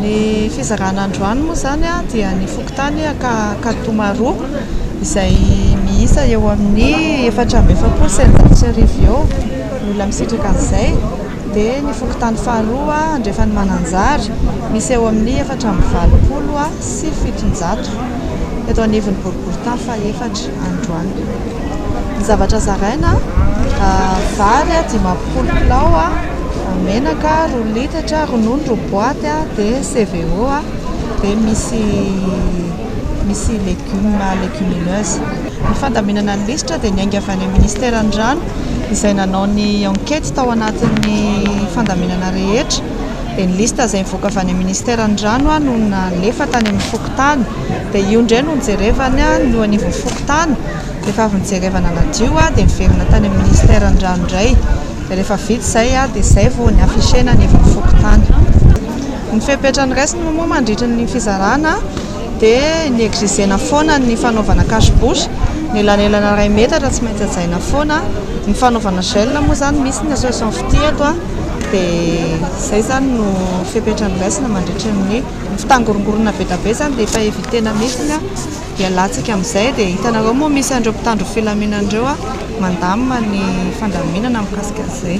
Ny fizarana androany moa izany dia ny fokontany Ankaditomaroa izay miisa eo amin'ny efatra amby efapolo sy eninjato sy arivo eo ny olona misitraka an'izay. dia ny fokontany faharoa andrefan'i Mananjary misy eo amin'ny efatra amby valopolo sy fitonjato eto anivon'ny boriborintany fahefatra androany. Ny zavatra zaraina, vary dimampolo kilao, menaka roa litatra, ronono roa boaty dia CVO dia misy misy légumes, légumineuses. Ny fandaminana ny lisitra dia niainga avy any amin'ny Minisiteran'ny rano izay nanao ny enquête tao anatin'ny fandaminana rehetra dia ny lisitra izay nivoaka avy any amin'ny Minisiteran'ny rano no nalefa tany amin'ny fokontany dia io indray no nojerevana ny eo anivon'ny fokontany rehefa avy nojerevana nadio dia niverina tany amin'ny Minisiteran'ny rano indray dia rehefa vita izay dia izay vao ny afficher-na anivon'ny fokontany. Ny fepetra noraisina moa mandritra ny fizarana dia negligena foana ny fanaovana cache bouche, ny elanelana iray metatra tsy maintsy hajaina foana, ny fanaovana gel moa izany misy ny association fitia eto an, dia izay izany no fepetra noraisina mandritra ny, ny fitangorongoronana be dia be izany dia efa evitena mihitsy an, dia alantsika amin'izay, dia hitanareo moa misy an'ireo mpitandro ny filaminana ireo mandamina ny fandaminana mikasika an'izay.